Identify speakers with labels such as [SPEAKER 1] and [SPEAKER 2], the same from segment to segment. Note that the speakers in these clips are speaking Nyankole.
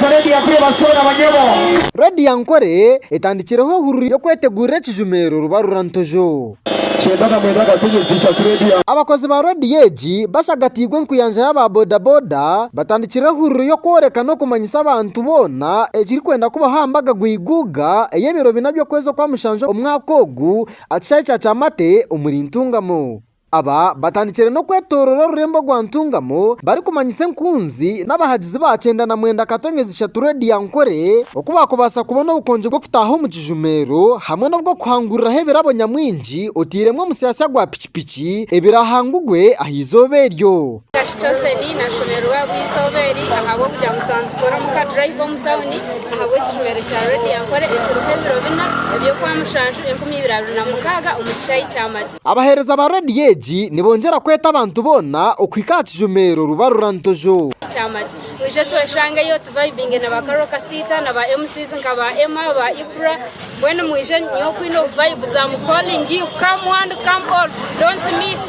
[SPEAKER 1] Radio Ankore basoora abanyabo. Radio Ankore etandikireho ohururi y'okwetegurira ekijumeero Rubarura Ntojo. Ky'embaga mwenda Gatonyo ziija ku Radio. Abakozi ba Radio egi bashagatiirwe enkuyanja y'aba boda boda batandikire ohururi y'okworeka n'okumanyisa abantu boona ekirikwenda kubaho aha mbaga Gweiguuga ey'ebiro bina by'okwezi okwa mushanju omwaka ogu akishaahe kya Kyamate omuri Ntungamo. Aba batandikire n'okwetoorora orurembo rwa Ntungamo barikumanyisa enkunzi n'abahagizi ba kyenda na mwenda Katonyezi ishatu Road ya Nkore oku baakubaasa kubona obukonjo bw'okutaaha omu kijumeero hamwe n'obw'okuhanguriraho ebirabo nyamwingi otairemu omusyasya gwa piki piki ebiraahangugwe aha izooba eryo. Kashi Chosen
[SPEAKER 2] nashemererwa ahabw'eizooba eri ahabw'okugira ngu twamutoora omu ka drive omu tawuni ahabw'ekijumeero kya Road ya Nkore ekiriho ebiro bina eby'okwamushanju enkumi ibiri abiri na mukaaga omu kishaayi kya Mati. Abaheereza ba reediyo
[SPEAKER 1] egi nibongyera kweta abantu boona okuhika aha kijuma ero ruba rura Ntojo. Kyamati.
[SPEAKER 2] Mwije tweshangeyo tuvayibinge na ba Carol Kasiita na ba MCs nka ba Emma, ba Ibra. Mbwenu mwije nyowe oku nyine obuvayibuzi am calling you come one come all don't miss.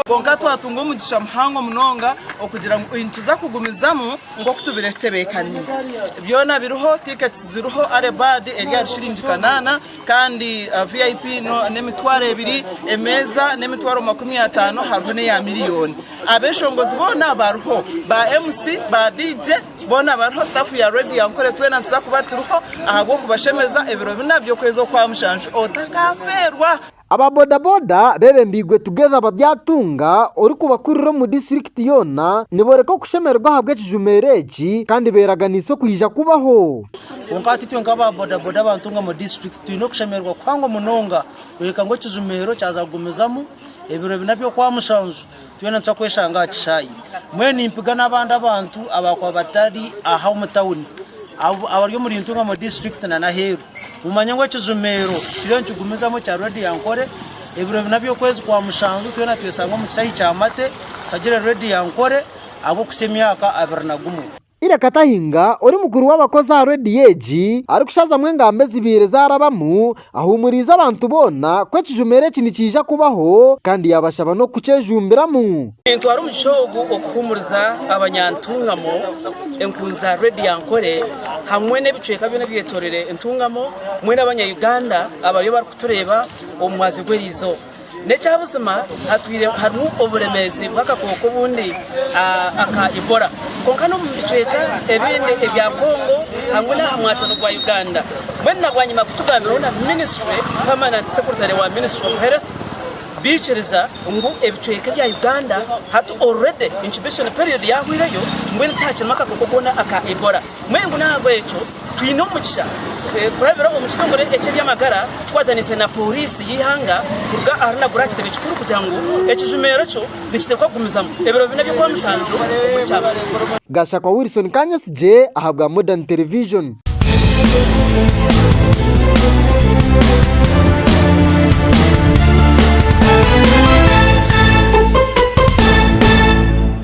[SPEAKER 2] Kwonka
[SPEAKER 3] twatunga omugisha muhango munonga okugira ngu nituza kugumizamu nk'oku tubaire tutebeekaniise. Byona biriho, tickets ziriho, early bird eri ahari shiringi kanaana. Kandi VIP n'emitwaro ebiri, emeeza n'emitwaro makumi ataano hariho n'eya miliyooni. Abeshongozi boona bariho, ba MC, ba DJ boona bariho, staff ya Radio Ankore twena nituza kuba turiho ahabw'okubashemeza ebiro bina by'okwezi okwa mushanju otakafeerwa. Aba bodaboda
[SPEAKER 1] bebembeirwe Together Babyatunga orikubakurira omu disiturikiti yoona nibooreka okushemererwa ahabw'ekijumeiro eki kandi beeraganiise okwija kubaho. Kwonka hati itwe
[SPEAKER 4] nk'aba bodaboda ba Ntungamo District twine okushemererwa kuhango munonga kureebeka ngu ekizumeero kyaza kugumizamu ebiro bina by'okwamushanju twena nituza kweshanga aha kishaayi. Mbwenu nimpiga n'abandi abantu abaakuba batari aha omu tawuni abari omuri Ntungamo District na n'aheeru mumanye ngu ekizumeero kituriyo nikigumizamu ekya Redio Ankore ebiro bina by'okwezi kwa mushanju twena tweshange omu kishaayi kya Mate tushagire Redio Ankore ahabw'okuhitsya emyaka abiri na gumwe. Ira Katahinga
[SPEAKER 1] ori mukuru w'abakozi aha rediyo egi arikushazamu engambo ezibaire zaarabamu, ahuumuriize abantu boona ku ekijumero eki nikiija kubaho kandi yaabashaba n'okukyejumbiramu. Nintwara omugisha
[SPEAKER 4] ogu okuhuumuriza abanyantungamo, enkundi za rediyo Ankore hamwe n'ebicweka byona ebyetoroire entungamo, mwena abanya Uganda abariyo barikutureeba omu mwazyo gw'eriizooba. N'ekyabuzima hatwire harimu oburemeezi bw'akakooko obundi aka Ebola kwonka n'omu bicweka ebindi ebya Congo hamwe n'aha mwatano gwa Uganda mbwenu na bwanyima kutugambirweho na minisitule pamananti sekuritare wa minisitule ofu health biikiriza ngu ebicweka ebya Uganda hati already incubation period yahwireyo mbwenu tihakirimu akakooko koona aka Ebola mbwenu ngu n'ahabw'ekyo twine omugisha kurabira omu kitongore eky'ebyamagara Tukwatanise na Pooriisi y'eihanga kuruga aha runagura aha kitebe kikuru kugira ngu ekijuma ekyo nikiteekwa kugumizamu ebiro bina by'okuba mushanju omuri Kyabazunza. Gashakwa
[SPEAKER 1] Wilson Kanyesigye ahabwa Modern Television.